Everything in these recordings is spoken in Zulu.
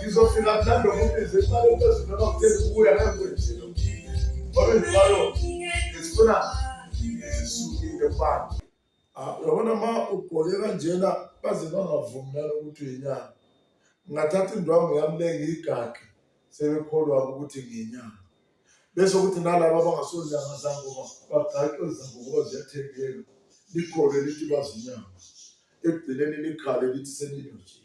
ngizofika mhlawumbe umuntu nje imali ephezulu noma kutheni kubuya ngeke kwenjilo ngoba njalo ngisifuna sisukile mfana ah, uyabona ma ugqoke kanjena baze bangavumi nalo ukuthi uyinyanga ngingathatha indwangu yami le ngiyigage sebekholwa ukuthi ngiyinyanga bese ukuthi nalabo abangasonyanga zangoma bagaqwe zangokuba ziyathengeka likhole lithi bazinyanga ekugcineni likhale lithi senilojile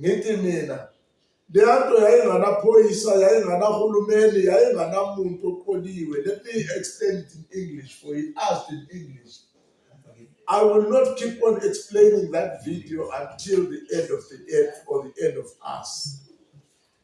ngithi mina leya nto yayinganaphoyisa yayinganahulumeni yayinganamuntu oqoliwe let me explain it in english for he asked in english I will not keep on explaining that video until the end of the earth or the end of us.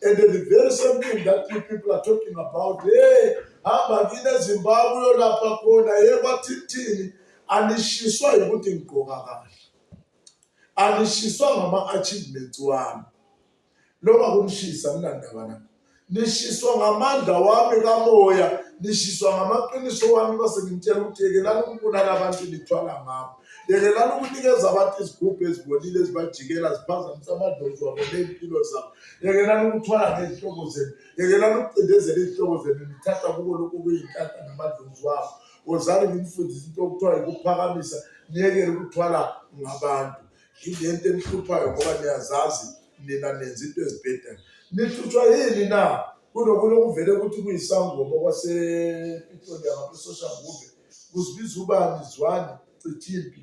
And the very same thing that you people are talking about, hey, hamba kini eZimbabwe uyolapha khona, hey kwathithini anishiswa ukuthi ngigqoka kahle. Anishiswa ngama achievements wami. Noma kunishisa ninandaba nami. Nishiswa ngamandla wami kamoya, nishiswa ngamaqiniso wami base ngimtshela ukuthi yekelani ukubulala abantu nithwala ngabo. Yekelani ukunikeza abantu izigubhu ezibolile ezibajikela ziphazamisa amadlozi wabo ney'mpilo zabo. yekelani ukuthwala ngezihloko zenu yekelani ukucindezela izihloko zenu nithatha kubo lokhu kuyinkatha namadlozi wabo wozani ngimfundise into okuthiwa yikuphakamisa niyekele ukuthwala ngabantu yilento enihluphayo ngoba niyazazi nina nenza into ezibhedayo nihlutshwa yini na kunokulokuvele ukuthi kuyisangoma kwasepetroleum abesoshangube kuzibiza ubani zwane cithimpi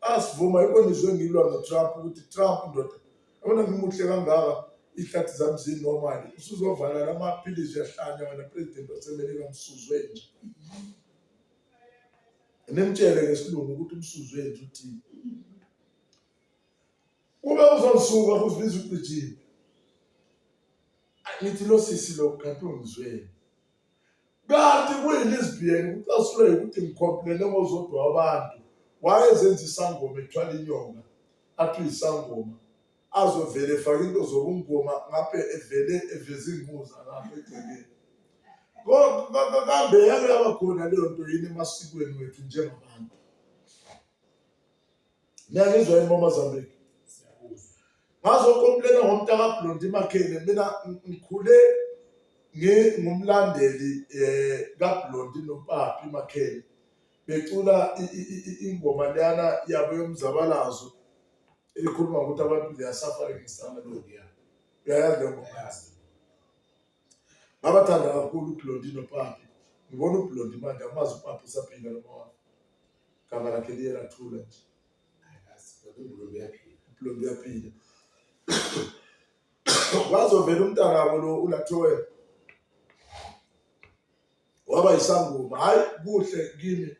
asivuma yikho nizwe ngilwa notrump ukuthi trump ndoda yabona ngimuhle kangaka ihlathi zami zinomali usuzovala la maphilisi uyahlanya wena president wasemelika msuzwe nje nimtshele ngesilungu ukuthi umsuzwe nje uthini kube uzonsuka kuzibiza ugqijile ngithi lo sisi lo kanti ungizweni kanti kuyilesbian kucasulwe ukuthi ngikhompilele ngozodwa wabantu wayezenza isangoma ethwala inyonga athi uyisangoma azovele efake into zokungoma ngabe evele eveza iingquza lapho egcekeni kambe yake yaba khona leyo nto yini emasikweni wethu njengabantu niyangizwa yini bomazambiki ngazokomplena ngomntakablondi makhele mina ngikhule ngingumlandeli eh kaBlondi noPapi Makhele becula ingoma leyana yabo yomzabalazo ekhuluma ukuthi abantu they are suffering in Samalodi ya uyayazi leyo ngoma yazi ngabathanda kakhulu uBlondi noPapi ngibona uBlondi manje amazi uPapi usaphila noma Gama lakhe liye lathula nje. Umbulombe uyaphila. Umbulombe uyaphila. Wazovela umntana wabo lo ulathowe. Waba isangoma. Hayi kuhle kimi.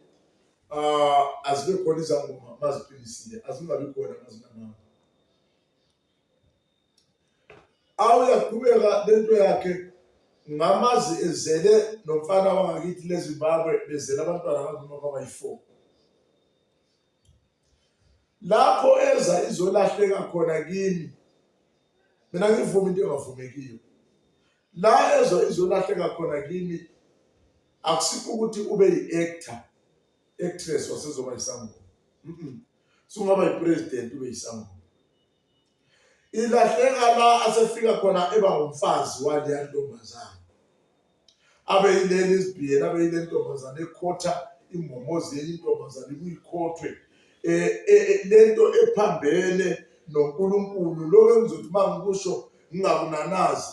Ah azibe khona izangoma maziphilisiwe. Azingabi khona mazinamanga. awu yaqhubeka lento yakhe ngamazi ezele nomfana wangakithi lezimbabwe bezele abantwana abanzima babayi-four lapho eza izolahleka khona kimi mina ngivuma into engavumekiyo la eza izolahleka khona kimi akusikho ukuthi ube yi-actor actress wasezoba yisangoma sungaba yi-president ube yisangoma ilahleka la asefika khona eba ngumfazi waleya ntombazane abe yileli izibhiyela abe yile ntombazane ekhotha imbomozi yenye intombazane kuyikhothwe um eh, eh, eh, le nto ephambene nonkulunkulu lokho engizothi uma ngikusho ngingakunanazi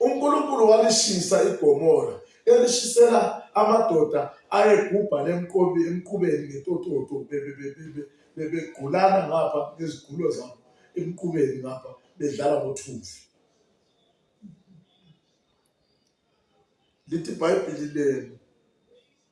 uNkulunkulu walishisa iGomora elishisela amadoda ayegubha lemqobi emqubeni ngetototo bebegqulana ngapha ngezigulo zabo emqubeni ngapha bedlala ngothuvi lithi ibhayibhili lenu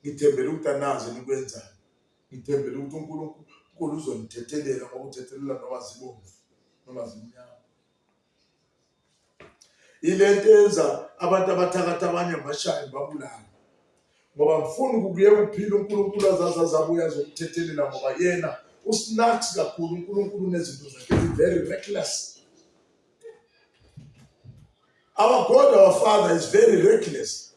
Ngithembele ukuthi anazi enikwenzayo. Ngithembele ukuthi uNkulunkulu uzonithethelela ngokuthethelela noma zibomvu noma zimnyama. Ile nto yenza abantu abathakathi abanye bashaye babulala ngoba ngifuna ukuyeka ukuphila uNkulunkulu azazi azabuya azokuthethelela ngoba yena usnax kakhulu uNkulunkulu unezinto zakhe very reckless our god our father is very reckless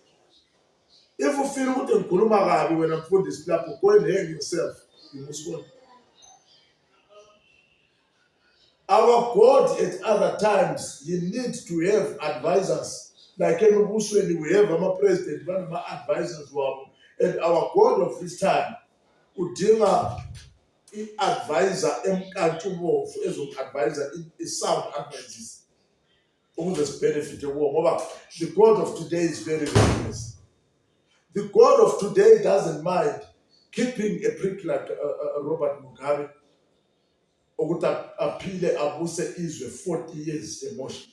If you feel ukuthi ngikhuluma kabi wena mfundisi lapho go and hang yourself you must go. Our God at other times you need to have advisors like emibusweni we have ama president banama advisors wabo and our God of this time udinga i-advisor emkantshubovu ezomu-advisor i-sound advices ukuze sibenefite kuwo ngoba the god of today is very ruthless the god of today doesn't mind keeping a prick like uh, uh, uh robert mugabe ukuthi aphile abuse izwe 40 years emotion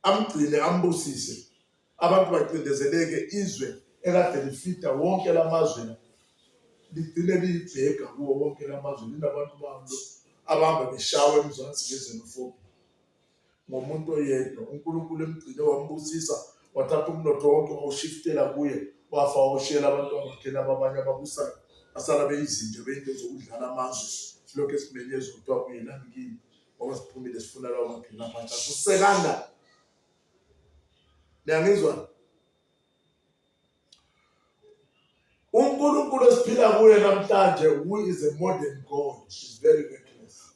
amgcine ambusise abantu bacindezeleke izwe ekade lifida wonke lamazwe ligcine liyibheka kuwo wonke lamazwe linabantu bamlo abahamba beshawa emzansi ngezenofobi ngomuntu oyedwa unkulunkulu emgcine wambusisa wathatha umnotho wonke wawushiftela kuye wafa wawushiyela abantu abakhe laba abanye ababusayo basala beyizinto beyinto zokudlala amazwe silokhu esimenyeza kuthiwa kuyelani kimi ngoba siphumile sifuna lawo magcina abantu akusekanga niyangizwa unkulunkulu esiphila kuye namhlanje who is a modern god is very reckless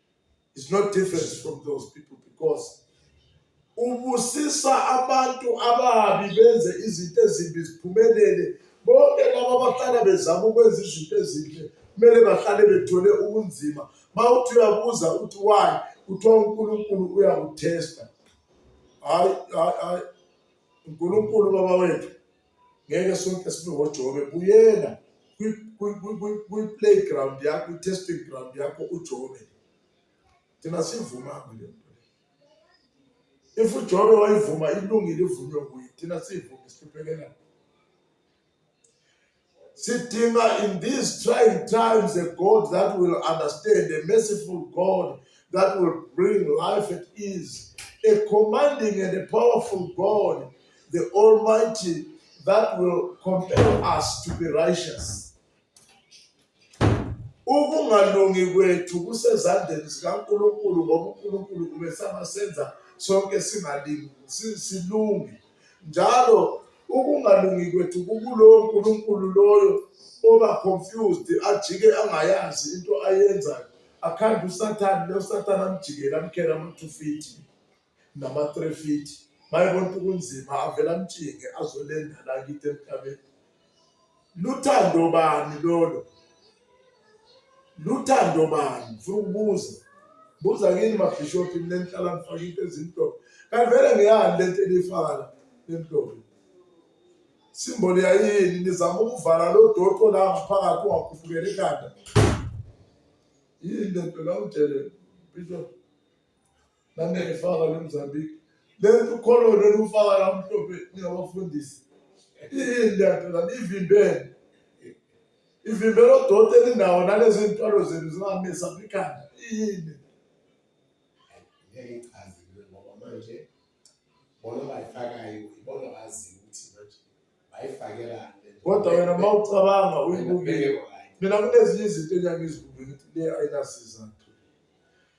is not different from those people because ubusisa abantu ababi benze izinto ezimbi ziphumelele bonke laba abahlala bezama ukwenza izinto ezinhle kumele bahlale bethole ubunzima ma uthi uyabuza uthi why kuthiwa unkulunkulu uyakuthesta hayi hayi hayi unkulunkulu baba wethu ngeke sonke sibe ngoJobe buyela kwi-playground yakho kwi-testing ground yakho uJobe thina sivuma kule nto if uJobe wayivuma ilungile ivunywe kuye thina siyivuma sihluphekela sidinga in these trying times a God that will understand a merciful God that will bring life at ease a commanding and a powerful God the Almighty that will compel us to be righteous. Ukungalungi kwethu kusezandleni zikaNkulunkulu ngoba uNkulunkulu kumesama senza sonke singalingi silunge njalo ukungalungi kwethu kukulowo nkulunkulu loyo oba confused ajike angayazi into ayenzayo akhanda usathane losathane amjikele amkhele amathufiti nama-three feet mayebona ukuthi kunzima avele amtshinge azolenda la kithi emhlabeni luthando bani lolo luthando bani funa ukubuza buza kini mabhishophi mina ngihlala ngifake into ezimhlophe kanti vele ngeyani le nto elifaka la emhlophe simboli yayini nizama ukuvala lo doqo la ngaphakathi ungakhuphukela ekhanda yini le nto la udelela bishophi nangayifaka le mzambiki le nto ukholona olufaka la mhlophe ningabafundisi iyini lento lani ivimbele ivimbele odoti eninawo nalezi ntwalo zenu zingamisa ikhanda iyini ngeke ichaze ngoba manje bona bayifakayo ibona baziyo ukuthi manje bayifakelani kodwa wena uma ucabanga uyibukile mina kunezinye izinto enyangizibuke ukuthi le ayinasizathu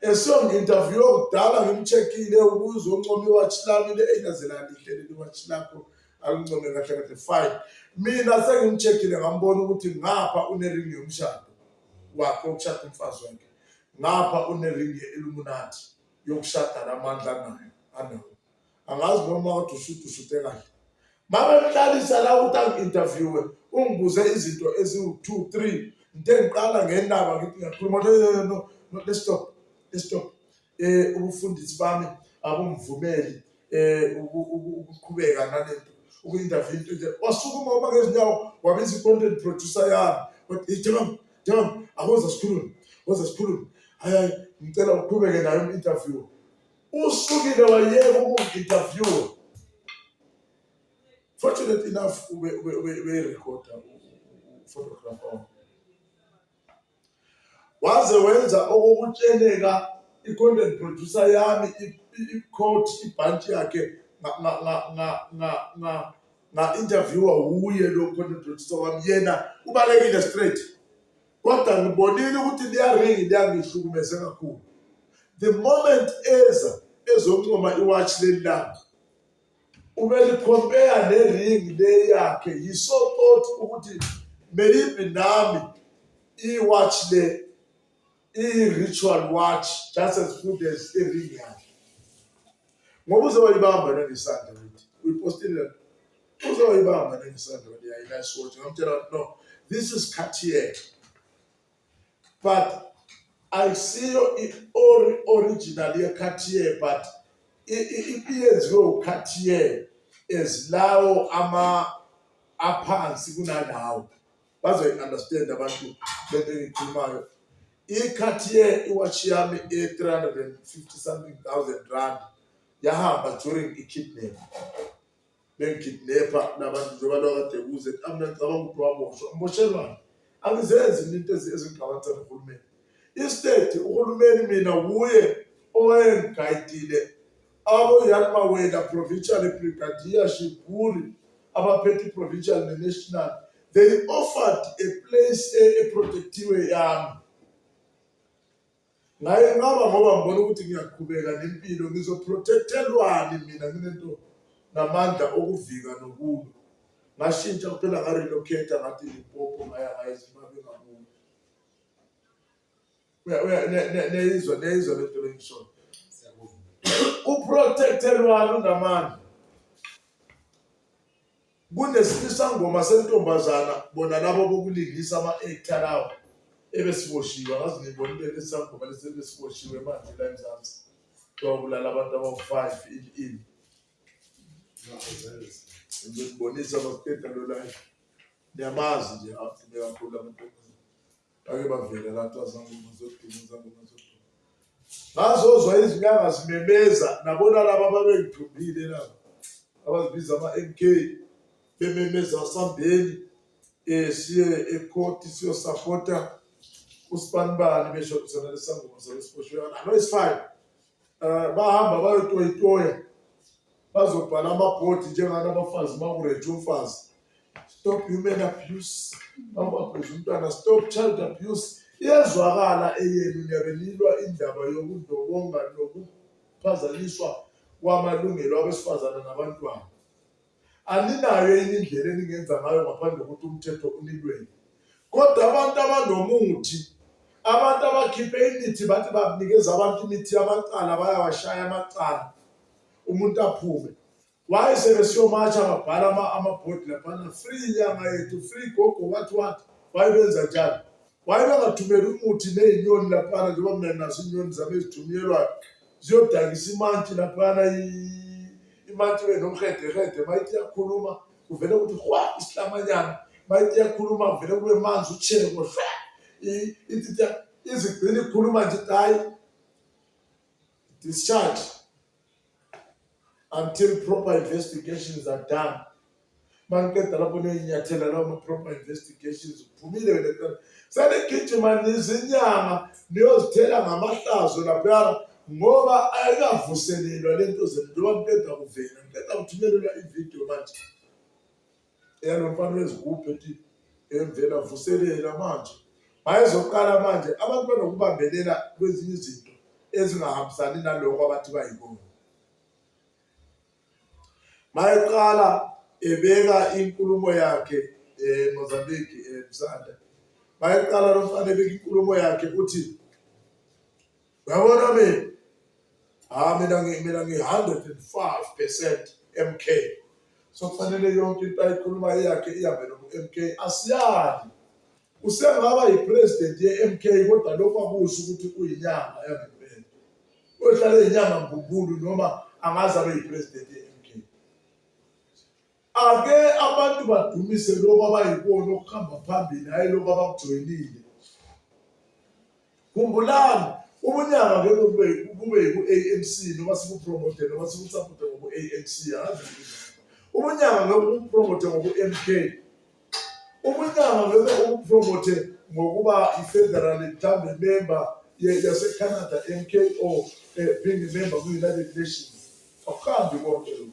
Esiyo ngi-interview kudala ngimcheckile ukuze uncome iwatch lami le enazelani ihle leli watch lakho alincome kahle kahle fine mina sengimcheckile ngambona ukuthi ngapha uneringi yomshado wakhe wokushada umfazi wakhe ngapha uneringi ye-illuminati yokushada namandla nayo anawo angazi noma kade usuthi usute kahle mabemhlalisa la ukuthi angi-interviewe ungibuze izinto eziwu-two three into engiqala ngendaba ngithi ngiyakhuluma no let's stop let's stop um ubufundisi bami abumvumeli um ukuqhubeka nalento uku-interview into nje wasukuma uma ngezinyawo wabiza i-content producer yami wathi jabam jabam akoza sikhulume koza sikhulume hayi hayi ngicela uqhubeke nayo i-interview Usukile wayeka ukungi-interviewer. Fortunate enough ubeyirekhoda uphotographer wami. Waze wenza okokutsheleka i-content producer yami i-coat ibhantshi yakhe nga-interviewer wuye lo content producer wami yena ubalekile straight. Kodwa ngibonile ukuthi liyaringi liyangihlukumeze kakhulu. The moment eza ezoncoma iwatch leli lami ubelicompare neringi le yakhe yiso thought ukuthi maybe nami iwatch le i-ritual watch just as good as iringi yakhe ngoba uzoyibamba nelisandla ukuthi uyipostile uzoyibamba nengisandoni yayi nice watch ngamtshela ukuthi no this is Cartier but ayisiyo i-ori original ye-Cartier but iyenziwe u-Cartier ezilawo ama aphansi kunalawo bazoyi-understand abantu lento engiyikhulumayo i-Cartier iwatch yami e-350 something thousand rand yahamba during i-kidnap bengikidnepha nabantu njengoba lokade kuze amna ngicabanga ukuthi waboshwa ngiboshelwani angizenzi mina into ezingigqabathela uhulumeni instead uhulumeni mina wuye owayengigayidile aboyalmawela provincial brigadier shiburi abaphethe i-provincial ne-national they offered a place eprotectiwe yami ngaye ngaba ngoba ngibona ukuthi ngiyaqhubeka nempilo ngizoprotectelwani mina nginento namandla okuvika nokulwa ngashintsha kuphela ngarelocate ngathi lipopo ngaya ngaye zimabe ngakubo neyizwa neyizwa lento lengishoyo uprotectelwani unamandla Kunesisangoma sentombazana bona labo bokulingisa ama-actor lawo ebesiboshiwe angazi ngibonile lesi sangoma lesi ebesiboshiwe manje la eMzansi kuthiwa kulala abantu abawu-five in in ngizonibonisa makuqeda lo live niyamazi nje agcine kakhulu amantombazana bake bavela la kuthiwa zangoma zoduma zangoma zoduma ngazozwa izinyanga zimemeza nabona laba ababengithumbile laba abazibiza ama-m k bememeza sambeni um siye ekhoti siyosapota usibanibani besho kusona lesangoma zalesiboshweyana no it's fine Eh, bahamba bayotoyitoya bazobhala amabhodi njengani abafazi uma kureje umfazi stop human abuse bamabheza umntwana stop child abuse iyezwakala eyenu niyabelilwa indaba yokundobonga nokuphazanyiswa kwamalungelo abesifazane nabantwana Aninayo yini indlela eningenza ngayo ngaphandle kokuthi umthetho unilwele? Kodwa abantu abanomuthi, abantu abakhiphe imithi bathi bakunikeza abantu imithi yamacala, bayawashaya amacala, umuntu aphume. Why sebesiyomatsha babhala amabhodi laphana free inyanga yethu, free gogo what what, why benza njani? Why bangathumeli umuthi nezinyoni laphana njengoba mina naso inyoni zami ezithunyelwayo ziyodakisa imantshi laphana imantshi ibe nomhedehede mayithi iyakhuluma kuvele ukuthi hwa isihlamanyana mayithi iyakhuluma kuvele kube manzi utsheko izigcina ikhuluma nje hayi discharge until proper investigations are done maniqeda lapho niyoyinyathela lawo ma-proper investigations uphumile wena kuqala senigijima nizinyama niyozithela ngamahlazo laphana ngoba ayikavuselelwa le nto zenu njengoba niqeda kuvela niqeda kuthumelelwa ividiyo manje eyalo mfana wezigubhu ethi emvela vuselela manje bayezoqala manje abantu banokubambelela kwezinye izinto ezingahambisani naloko abathi bayikona mayeqala ebeka inkulumo yakhe eh Mozambique eh Msanda mayeqala lomfana ebeka inkulumo yakhe uthi Uyabona mina? Hayi mina ngi mina ngi 105% MK. So kufanele yonke into ayikhuluma yakhe ihambe no MK. Asiyali. Usengaba yipresident ye MK kodwa lokho akusho ukuthi uyinyanga yangempela. Uyohlala inyanga mbumbulu noma angaze abe yipresident ye MK. Ake abantu badumise lokho abayikona okuhamba phambili, hhayi lokho abakujoyinile. Khumbulani, ubunyanga ngeke kube kube yiku-ANC noma sikupromote noma sikusapote ngoku-ANC, angazi ubunyanga ngeke ubupromote ngoku-MK, ubunyanga ngeke ubupromote ngokuba i-federal mhlawumbe member yasecanada MKO eh, being a member kwi-united nations akuhambi konke lokhu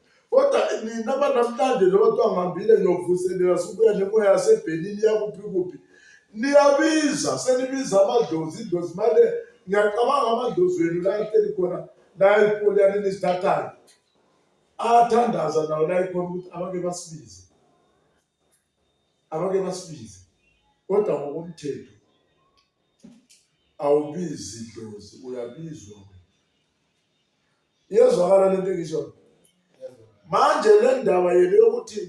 kodwa nina banamhlanje lodwa ngihambile ngiyovuselela subuya nemoya yasebhenini yakuphi kuphi niyabiza senibiza amadlozi idlozi manje ngiyacabanga amadlozi wenu la ehleli khona la elikoli yani nisithathayo athandaza nawo la ekhona ukuthi abake basibize abake basibize kodwa ngokomthetho awubizi idlozi uyabizwa iyezwakala le nto engisho manje le ndaba yenu yokuthi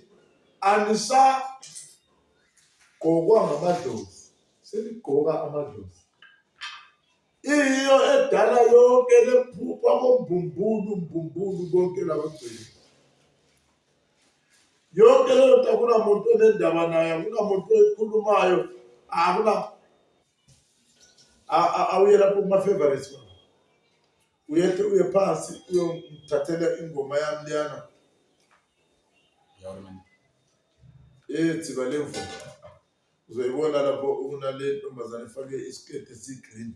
anisagqokwa ngamadlozi senigqoka amadlozi Iyo edala yonke lephupha kombumbulu mbumbulu konke labagcini. Yonke leyo nto akunamuntu onendaba nayo, akunamuntu oyikhulumayo, akuna awuye lapho kuma-favorites wami uyethe uye phansi uyongithathela ingoma yami liyana ethi balemvuma uzoyibona lapho unale ntombazane efake isiketi esiyi-green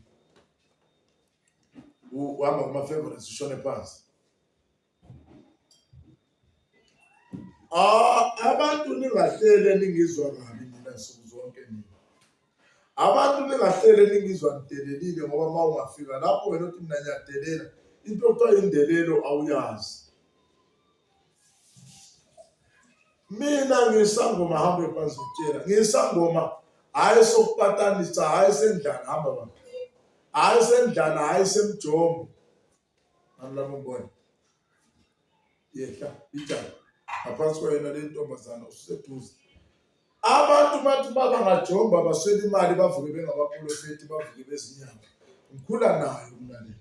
U- uhamba kuma-favorites ushone phansi Ah, abantu ningahlele ningizwa kabi nina nsuku zonke nina abantu ningahlele ningizwa ngidelelile ngoba uma ungafika lapho wena othi mina ngiyadelela into okuthiwa indelelo awuyazi mina ngisangoma hambe phansi kutshela ngisangoma hayi sokupatanisa hayi sendlana hamba baba hayi sendlana hayi semjombo nalabo mbona yehla ijana ngaphansi kwayena le ntombazana ususeduze abantu bathi baba ngajomba baswela imali bavuke bengabaprofethi bavuke bezinyanga ngikhula nayo mlaleli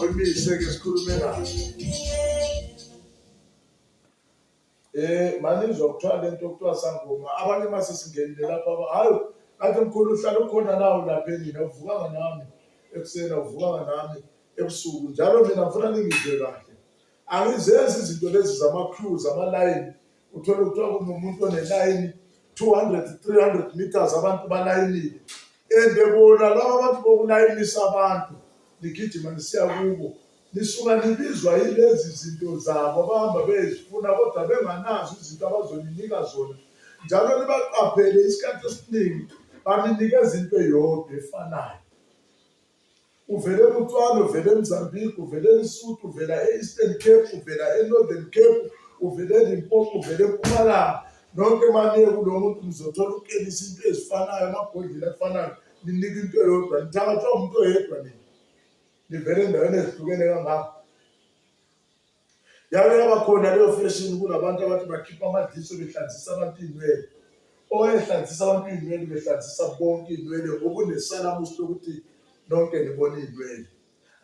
Awumise ke sikhulume naye. Eh manje ngizokuthola lento okuthiwa sangoma. Abanye mase singenile lapha aba hayo kanti mkhulu uhlala ukhona nawo lapha endlini awuvukanga nami ekuseni awuvukanga nami ebusuku njalo mina ngifuna ningizwe kahle. Angizenzi izinto lezi zama-crews ama-line uthole kuthiwa kunomuntu onelayini 200 300 meters abantu balayinile and bona laba bantu bokulayinisa abantu nigijima nisiya kubo nisuka nibizwa yilezi zinto zabo abahamba bezifuna kodwa benganazo izinto abazoninika zona njalo nibaqaphele isikhathi esiningi baninikeza into eyodwa efanayo Uvele eBotswana, uvele eMozambique, uvele eLesotho, uvela e-Eastern Cape, uvela e-Northern Cape, uvele eLimpopo, uvele eMpumalanga. Nonke maniye kulo muntu nizothola ukenisa into ezifanayo, amabhodlela afanayo, ninika into eyodwa, nithabathwa umuntu oyedwa nini. Nivele endaweni ezihlukene kangako. Yake yaba khona leyo fashion kunabantu abathi bakhipha amadliso behlanzisa abantu iy'nwele. Owayehlanzisa abantu iy'nwele behlanzisa bonke iy'nwele ngokunesalamusi lokuthi nonke nibona iy'nwele.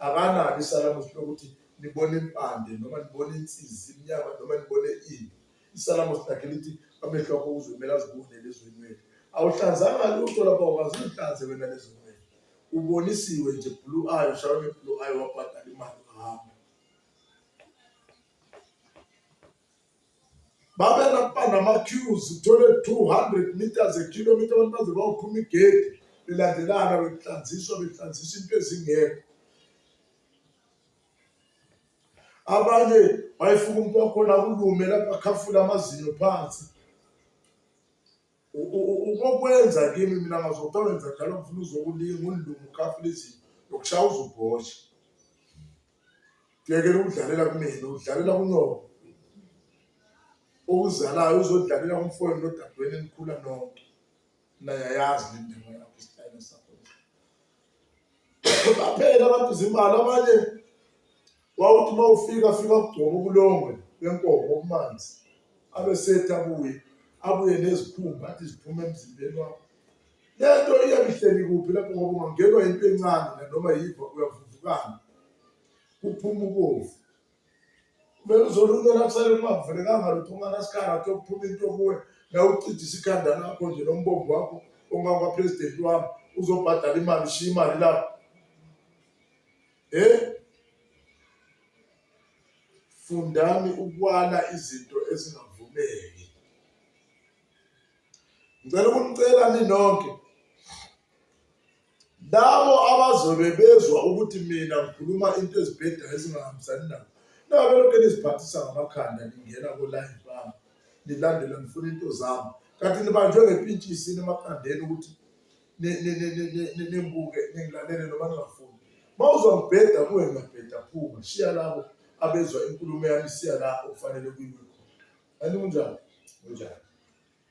Akanalo isalamusi lokuthi nibona impande noma nibona insizi imnyama noma nibone ini. Isalamusi lakhe lithi amehlo akho uzomele azibone lezo ynwele. Awuhlanzanga lutho lapha wakwazi uhlanze wena lezo ynwele. Ubonisiwe nje blue eye, ushawe nge-blue eye wabhadala imali wahamba. babenakuba nama-cues uthole 200 meters ekhilomitha abantu baze bayophuma igedi belandelana behlanziswa behlanzisa into ezingekho abanye wayefuka umuntu wakhona kulume lapho akhafula amazinyo phansi ukokwenza kimi mina ngazokwenza njalo ngifuna uzokulinga undlungu ukhafulizini nokushaya uzubhosha kuyekela ukudlalela kumina udlalela kunyoko okuzalayo uzodlalela kumfowenu nodadweni enikhula nonke nayayazi le ndima yakho isitayela sakho baphela abantu zimali abanye Wawuthi uma ufika fika kugcoba ubulongwe benkomo obumanzi abe sethi abuye abuye nezikhumba athi ziphume emzimbeni wakho lento iyabihleli kuphi lapho ngoba ungangenwa yinto encane nanoma yiva uyavuvukana kuphuma ubovu kumele uzolunela kusale kungavulekanga lutho unganasikhala kutho kuphuma into kuwe la ucijisa ikhanda lakho nje nombombo wakho ongakwapresidenti wami uzobhadala imali ushiya imali lapho Hey, fundani ukwala izinto ezingavumeki. Ngicela ukunicela ninonke labo abazobe bezwa ukuthi mina ngikhuluma into ezibhedayo ezingahambisani nabo nabe lokhu niziphathisa ngamakhanda ningena kolayini bami nilandela ngifuna into zami kanti nibanjwe ngepintshisi emakhandeni ukuthi nimbuke ningilalele noma ningafuni mawuzwa ngibheda kuwe ngiyabheda phuma shiya labo abezwa inkulumo yami siya la okufanele kuyiwe khona kanti kunjani kunjani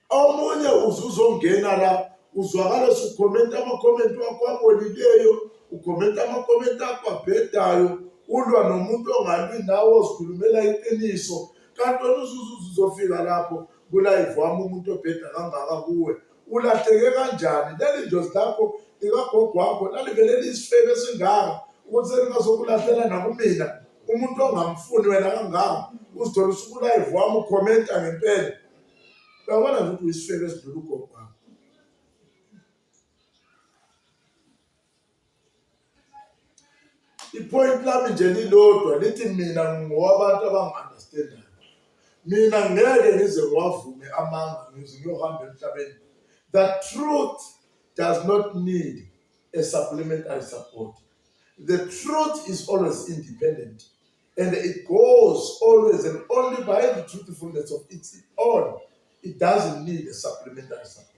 omunye uzuzongena la uzwakala sukhomenta amakhomenti wakho abolileyo ukhomenta amakhomenti akho abhedayo ulwa nomuntu ongalwi nawe ozikhulumela iqiniso kanti oluzuzu uzofika lapho kulayivami umuntu obheda kangaka kuwe Ulahleke kanjani? Leli dlozi lakho likagogo wakho lalivele liyisifebe esingaka ukuthi selingazokulahlela nakumina umuntu ongamfuni wena kangaka uzithola usukulive wami ukhomenta ngempela uyabona nje ukuthi uyisifebe esidlula ugogo wakho ipoint lami nje lilodwa lithi mina ngowabantu abangu-understandayo mina ngeke ngize ngiwavume amanga ngize ngiyohamba emhlabeni the truth does not need a supplementary support the truth is always independent and it goes always and only by the truthfulness of its own it doesn't need a supplementary support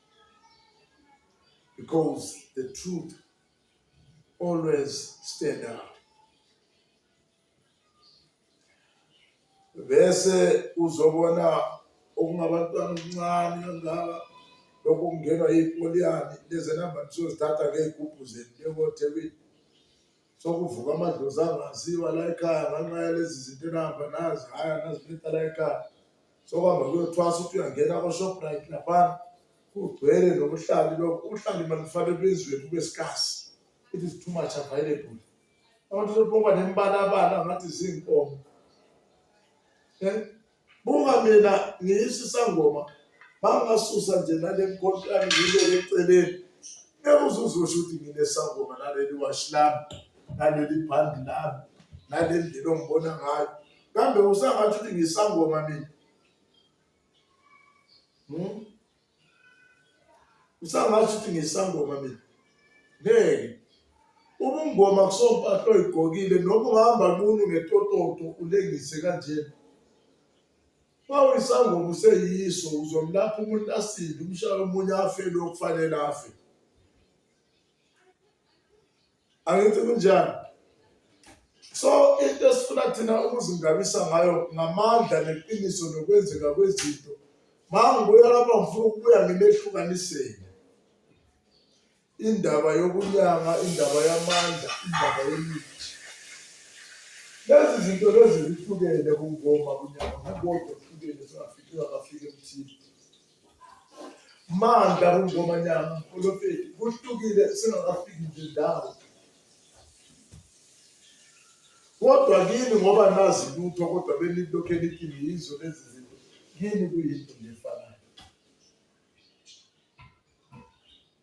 because the truth always stand out. Bese uzobona okungabantwana okuncane kangaka lokhu kungenwa yipoliyani lezi namba nisozithatha ngey'gubhu zenu njengothebini sokuvuka amadlozi angaziwa la ekhaya ngenxa yalezi zinto enihamba nazi hhayi anazibetha la ekhaya sokuhamba kuyothwasa ukuthi uyangena kwashoprite laphana kugcwele nobuhlali lokho ubuhlali malifane bezweni kube sikasi it is too much available abantu sebonga nembalabala ngathi zinkomo eh? buka mina ngiyisisangoma bangasusa nje nale nkonto yami ngibeke eceleni ngeke uzuzosho ukuthi nginesangoma naleli washi lami naleli bhandi lami nalendlela ongibona ngayo kambe usangathi ukuthi ngisangoma mina hmm? usangathi ukuthi ngisangoma mina ngeke ubungoma kusompahla oyigqokile noma ungahamba nqunu ngetototo ulengise kanjena uma uyisangoma useyiso uzomlapha umuntu asinde umshaye omunye afe lokufanele afe angithi kunjani so into esifuna thina ukuzingabisa ngayo ngamandla neqiniso nokwenzeka kwezinto mangibuya lapha ngifuna ukubuya ngimehlukanisele indaba yokunyanga indaba yamandla indaba yemithi lezi zinto lezi zihlukene kungoma kunyanga kukodwa kuhlukene zingafiki zingafiki emthini mandla kungomanyana mprofeti kuhlukile singakafiki nje ndawo kodwa kini ngoba nazi lutho kodwa benilokhu enikini yizo lezi zinto kini kuyinto ngefanayo